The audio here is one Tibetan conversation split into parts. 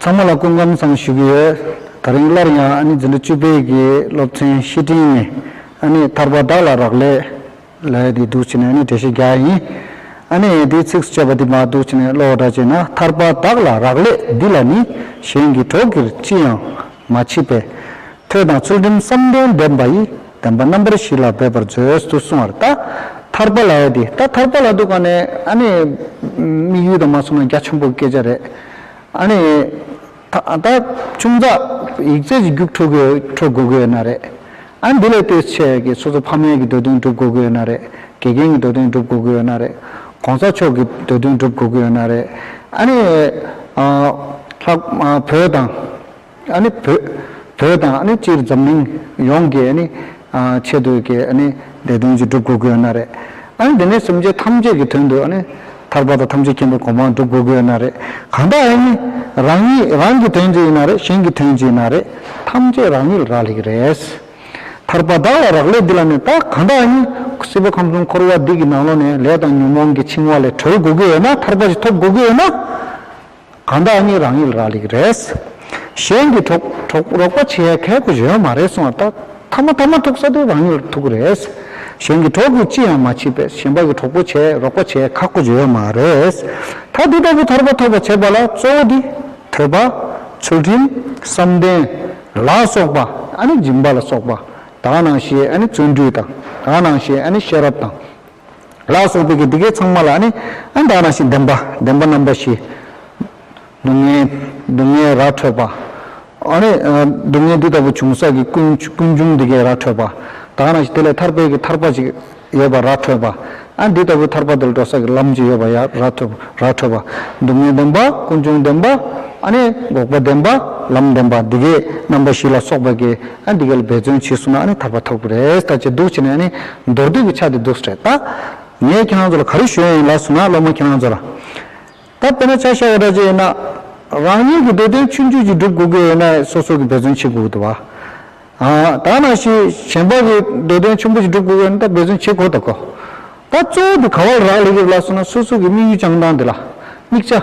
ཚང་མ་ལ་སྐུ་ཁམས་བཟང་ཞུ་གི་ཡོད། ད་རིང་སླར་ཡང་ཨ་ནེ་འཛིན་གྲྭ་བཅུ་པའི་གི་སློབ་ཚན་བཤེས་སྤྲིང་ནས་ཨ་ནེ་ཐར་པ་དག་ལ་རག་ལས་ལས་འདི་འདུག་བྱས་ནས་ཨ་ནེ་བགྲེས་ཤིང་རྒྱ་ཡིན་ཨ་ནེ་ཡེ་འདི་ཚིགས་སུ་བཅད་པ་འདི་མ་འདུག་བྱས་ནས་བློ་བགྲ་བྱས་ན་ཐར་པ་དག་ལ་རག་ལས་འདི་ལ་ནི་གཞན་གི་གྲོགས་ཀྱིར་ཅི་ཡང། མ་མཆིས་པས། ཐོས་དང་ཚུལ་ཁྲིམས་བསམ་གཏན་ལྡན་པ་ཡི། བདེན་པ་རྣམ་པར་བཞི་ལ་འབད་པར་མཛོད། དུ་གསུང་བར། ད་ཐར་པ་ལ་ཡོད་དེ། ད་ཐར་པ་ལ་འདུག་ག་ནས་ཨ་ནི། དམིགས་ཡུལ་དུ་མ་སོང་ན་རྒྱ་ཆེན་པོའི་སྐད་ཆ་རེད། ཨ་ནི། ད་ཆུང་བཙག་ཡིག་རྩལ་གྱི་རྒྱུགས་འཕྲོ་དགོས་ཀྱི་ཡོད་ན་རེད། ཨ་ནི་འདི་ལས་ལྟོས་ཆེ་གི་སོ་སོ་ཕ་མེས་ཀྱི་འདོད་དོན་སྒྲུབ་དགོས་ཀྱི་ཡོད་ན་རེད། དགེ་རྒན་གྱི་འདོད་དོན་སྒྲུབ་དགོས་ཀྱི་ཡོད་ན་རེད། གོང་ས་མཆོག་གི་འདོད་དོན་སྒྲུབ་དགོས་ཀྱི་ཡོད་ན་རེད། ཨ་ནི། ལྷག་བོད་དང། བོད་དང་སྤྱིར་འཛམ་གླིང་ཡོངས་ཀྱི་ཆེ་བསྟོད་ཀྱི་ལས་དོན་ཅིག་སྒྲུབ་དགོས་ཀྱི་ཡོད་ན་རེད། འདི་ནས་སེམས་ཅན་ཐམས་ཅད་ཀྱི་དོན་དུ་ཐར་པ་དང་ཐམས་ཅད་མཁྱེན་པའི་གོ་འཕང་སྒྲུབ་དགོས་ཀྱི་ཡོད་ན་རེད། གང་དག་ཡིན་རང་ཉིད་རང་གི་དོན་ཅི་ཡིན་ན་རེད་གཞན་གྱི་དོན་ཅི་ཡིན་ན་རེད་ཐམས་ཅད་རང་ཉིད་ལ་རག་ལས་ཀྱི་རེད། ཐར་པ་བདག་ལ་རག་ལས་འདི་ལ་ནི་ད་གང་དག་ཡིན་སྲིད་པ་ཁམས་གསུམ་འཁོར་བ་འདི་གི་ནང་ལོགས་ནས་ལས་དང་ཉོན་མོངས་ཀྱི་འཆིང་བ་ལས་གྲོལ་དགོས་ཀྱི་ཡོད་ན་ཐར་པ་ཞིག་ཐོབ་དགོས་ཀྱི་ཡོད་ན། གང་བདག་གཉིས་རང་ཡིད་རག་ལེགས་རེད། གཞན་གྱིས་གྲོགས་རོགས་པ་བྱེད་ཡ་གལ་གོ་གཞོན་མ་རེད་གསུང་བ་ལྟར་ཐ་མ་ཐ་མ་ཐུག་ས་དེ་རང་ཉིད་ལ་ཐུག་གི་རེད། གཞན་གྱི་གྲོགས་གིས་ཅི་ཡང་མ་བྱས་པས་གཞན་པ་གི་གྲོགས་པོ་བྱེད་རོགས་པ་བྱེད་ཁག་གོ་གཞོན་མ་རེད། ད་འདི་ལྟ་བུ་ཐར་པ་ཐོབ་པ་བྱེད་པ་ལ་གཙོ་བོ་འདི། ཐོས་པ། ཚུལ་ཁྲིམས། བསམ་གཏན། ལ་སོགས་པ། ཨ་ནི་སྦྱིན་པ་ལ་སོགས་པ། དག་སྣང་ཞེས་ཨ་ནི་བརྩོན་འགྲུས་དང། དག་སྣང་ཞེས་ཨ་ནི་ཤེས་རབ་དང། ལ་སོགས་པའི་གི་འདི་གའི་ཚང་མ་ལ་ནི། ཨན་དག་ན་ཞིག་བདེན་པ་བདེན་པ་རྣམ་པ་བཞི། སྡུག་བསྔལ་སྡུག་བསྔལ་ར་འཕྲོད་པ། ཨ་ནི། སྡུག་བསྔལ་འདི་ལྟ་བུ་བྱུང་ས་གི་ཀུན་ཀུན་འབྱུང་འདི་གའི་ར་འཕྲོད་པ། དག་ན་ཞིག་དེ་ལས་ཐར་པའི་གི་ཐར་པ་ཅིག་ཡོད་པ་ར་འཕྲོད་པ། ཨན་འདི་ལྟ་བུའི་ཐར་པ་དེ་ལ་འགྲོ་ས་གི་ལམ་ཅིག་ཡོད་པ་ཡ་ར་འཐོད་པ་ར་འཕྲོད་པ། སྡུག་བསྔལ་བདེན་པ་ཀུན་འབྱུང་བདེན་པ། ཨ་ནི། འགོག་པ་བདེན་པ་ལམ་བདེན་པ་འདི་གའི་རྣམ་པ་བཞི་ལ་སོགས་པའི་གི་ཨ་འདི་གལ་འབད་བརྩོན་བྱས་སོང་ན་ཨ་ནི་ཐར་པ་ཐོབ་གི་རེད་ད་ཅེས་སྡུག་བྱས་ནས་ཨ་ནི་མདོར་བསྡུས་ཀྱི་ཆ་དེ་འདུག་རེད་ད། ངས་ཁྱེད་རང་ཚོ་ལ་ག་རེ་ཞུ་ཡི་ཡིན་ལགས་སོ་ན་སློབ་མ་ཁྱེད་རང་ཚོ་ལ། ད་དཔེར་ན་ཆ་ཤས་བ་འདྲ་བྱས་ཡོད་ན། རང་ཉིད་ཀྱི་འདོད་དོན་ཆུད་འཇུག་ཅིག་སྒྲུབ་དགོས་ཀྱི་ཡོད་ན་སོ་སོ་གིས་འབད་བརྩོན་བྱེད་དགོས་དགོས་ཏེ། ད་ན་ཞིག་གཞན་པ་གི་འདོད་དོན་ཆུང་པོ་ཅིག་སྒྲུབ་དགོས་ཀྱི་ཡོད་ན་ད་འབད་བརྩོན་བྱེད་དགོས་ད་གོ། ད་གཙོ་བོ་དེ་ག་བ་ལ་རག་ལས་ཀྱི་རེད་ལགས་སོ་ན་སོ་སོ་གི་དམིགས་ཡུལ་བཅངས་སྟངས་དེ་ལ་དམིགས་བྱ།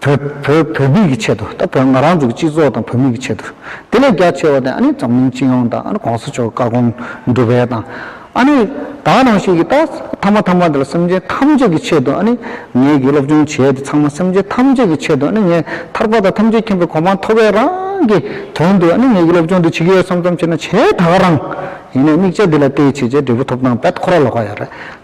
བོད་བོད་བོད་མི་གི་ཆེད་དུ་ད་བོད་ང་རང་ཚུག་སྤྱི་ཚོགས་དང་བོད་མི་གི་ཆེད་དུ་དེ་ལས་རྒྱ་ཆེ་བ་དེ་ཨ་ནི་འཛམ་གླིང་སྤྱི་ཡོངས་དང་ཨ་ནི་གོང་ས་མཆོག་བཀའ་དགོངས་འགྲུབ་པའི་དང་ཨ་ནི་ད་རང་བཞིན་གི་ད་ཐ་མ་ཐ་མ་དེ་ལ་སེམས་ཅན་ཐམས་ཅད་ཀྱི་ཆེད་དུ་ཨ་ནི་ངེད་ཀྱི་སློབ་སྦྱོང་བྱས་དེ་ཚང་མ་སེམས་ཅན་ཐམས་ཅད་ཀྱི་ཆེད་དུ་ཨ་ནི་ངས་ཐར་པ་དང་ཐམས་ཅད་མཁྱེན་པའི་གོ་འཕང་ཐོབ་པའི་རང་གི་དོན་དུ་ཨ་ནི་ངེད་ཀྱི་སློབ་སྦྱོང་འདི་བྱེད་ཀྱི་ཡོད་བསམ་བསམ་བྱས་ན་བྱས་དག་རང་ཡིན་ནས་དམིགས་བྱ་འདི་ལ་བལྟས་བྱས་བྱས་འབྲས་བུ་ཐོབ་ཐང་འབད་ཁོ་ར་ལོག་ག་ཡ་རེད།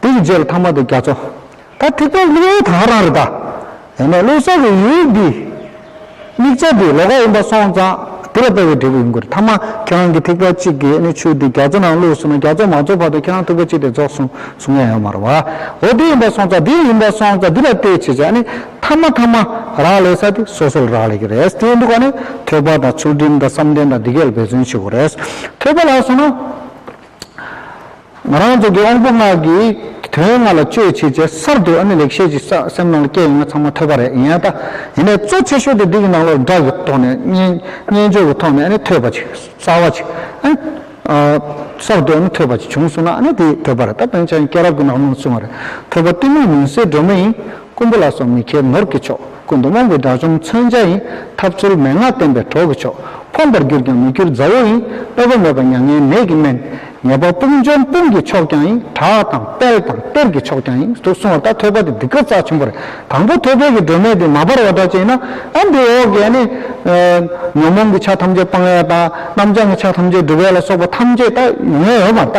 དེ་ཡི་རྗེས་ལ་ཐ་མ་དེ་རྒྱ་མཚོ། ད་ཐེག་པའི་གླིང་བོ་དག་རང་རེད་ད། ཡང་ན་བློ་གསལ་བའི་ཡུལ་འདི། དམིགས་བྱ་འདི་ལོ་ག་ཡིན་པ་སོང་ཙང་དེ་ལ་ལྟ་བའི་འབྲས་བུ་ཡིན་དགོས་རེད་ཐ་མ་ཁྱེད་རང་གི་ཐེག་པ་གཅིག་གི་ནི་ཆོས་འདི་རྒྱ་མཚོ་ནང་བླུགས་སོང་ན་རྒྱ་མཚོ་མ་རྫོགས་བར་དུ་ཁྱེད་རང་ཐེག་པ་གཅིག་དེ་རྫོགས་སོང་གསུང་ཡ་ཡོད་མ་རེད་བ། འོ་དེ་ཡིན་པ་སོང་ཙང་དེ་ཡིན་པ་སོང་ཙང་དེ་ལ་ལྟོས་བྱེད་བྱ་ནི་ཐ་མ་ཐ་མ་རག་ལས་ས་དེ་སོ་སོ་ལ་རག་ལས་ཀྱི་རེད་དེ་ཡིན་འདུག་བ་ནི་ཐོས་པ་དང་ཚུལ་ཁྲིམས་དང་བསམ་གཏན་དང་འདི་གས་ལ་འབད་བརྩོན་བྱེད་དགོས་རེད་ཐོས་པ་ལགས་སོང་ན། ང་རང་ཚོ་དགེ་དབང་པོ་ལྔ་གི་དོན་ལྔ་ལ་དཔྱོད་བྱེད་ཆེ་སར་འདུག་ཨ་ནི་ལེགས་བཤད་ཅིག་ས་སེམས་ནང་ལ་སྐྱེ་ཡོང་ན་ཚང་མ་ཐོས་པ་རེད་ཡིན་ཨ་ད་ཡིན་ནས་གཙོ་ཆེ་ཤོས་དེ་འདི་གི་ནང་ལོར་སྒྲ་གི་ཐོག་ནས་སྨྱན་སྦྱོར་གི་ཐོག་ནས་ཨ་ནི་ཐོས་པ་ཅིག་གསར་བ་ཅིག་ཨ་སར་འདུག་ཨ་ནི་ཐོས་པ་ཅིག་བྱུང་སོང་ན་ཨ་ནི་དེ་ཐོས་པ་རེད་ད་བོན་ཆེན་གྱི་སྐྱེས་རབས་ཀྱི་ནང་ལོར་བྱུང་བ་རེད་ཐོས་པ་གཏི་མུག་མུན་སེལ་སྒྲོན་མེ་ཡིན། རྐུན་པོ་ལ་སོགས་མི་མཁས་ནོར་གྱི་མཆོག། ཀུན་ཏུ་དབང་པོའི་དགྲ་བཅོམ་མཚོན་ཆ་ཡིན། ཐབས་ཚུལ་མན་ངག་བསྟན་པའི་གྲོགས་ཀྱི་མཆོག། ཕོངས་པར་གྱུར་ཀྱང་མི་འགྱུར་མཛའ་བོ་ཡིན། དཔོད་པ་མེད་པར་མྱ་ངན་མེད་ཀྱི་སྨན། ཉེས་པ་དཔུང་འཇོམས་དཔུང་གི་མཆོག་ཀྱང་ཡིན། བྲག་དང་དཔལ་དང་གཏེར་གྱི་མཆོག་ཀྱང་ཡིན། དུ་གསུང་བ་ལྟར་ཐོད་པ་དེ་འདི་སྐབས་རྩ་ཆེན་པོ་རེད། དང་པོ་ཐོད་པའི་གྱི་སྒྲོན་མེ་དེ་མ་སྦར་བ་འདྲ་བྱས་ན། ཨ་འདི་འོག་གི་ནི། ཉོན་མོངས་ཀྱི་ཆ་ཐམས་ཅད་སྤང་བའི་རྟགས། རྣམ་བྱང་གི་ཆ་ཐམས་ཅད་སྒྲུབ་པའི་ལ་སོགས་པ་ཐམས་ཅད་ལྟ། ཡོན་ཡོད་པར་ལྟ།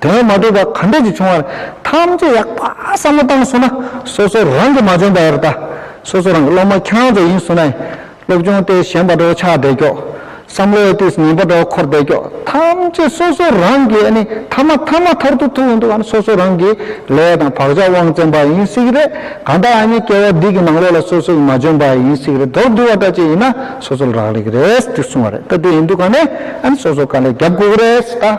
དོན་མ་གྲུབ་པ་ག་འདྲས་ཀྱིས་བྱུང་བར་ཐམས་ཅད་ཡག་པ་བསམ་བློ་བཏང་སོང་ན་སོ་སོ་རང་གིས་མ་འཇོན་པར་ད་སོ་སོ་རང་གི་སློབ་མ་ཁྱང་ཙོ་ཡིན་སོང་ནས་སློབ་སྦྱོང་ལྟས་གཞན་པ་འགྲོ་ཆགས་བསྡད་ཀྱོག་བསམ་བློའི་ལྟས་ངན་པ་འགྲོ་འཁོར་བསྡད་ཀྱོག་ཐམས་ཅད་སོ་སོ་རང་གིས་ཨ་ནི་ཐ་མ་ཐ་མ་ཐར་དུ་ཐུག་ཡོང་འདུག་ཨ་ནི་སོ་སོ་རང་གིས་ལས་དང་བག་ཆགས་དབང་བཙན་པ་ཡིན་སྲིད་ཀྱི་རེད་གང་ལྟར་ཨ་ནི་སྐྱེ་བ་འདི་གི་ནང་ལོགས་ལ་སོ་སོ་ཡིས་མ་འཇོན་པ་ཡིན་སྲིད་ཀྱི་རེད་མདོར་བསྡུ་བ་འདྲ་ཅིག་ཡིན་ན་སོ་སོ་ལ་རག་ལས་ཀྱི་རེད་ཏུ་གསུང་བ་རེད་ད་དེ་ཡིན་འདུག་ག་ནས་ཨ་ནི་སོ་སོ་ག་ལས་རྒྱབ་དགོས་ཀྱི་རེད་ད།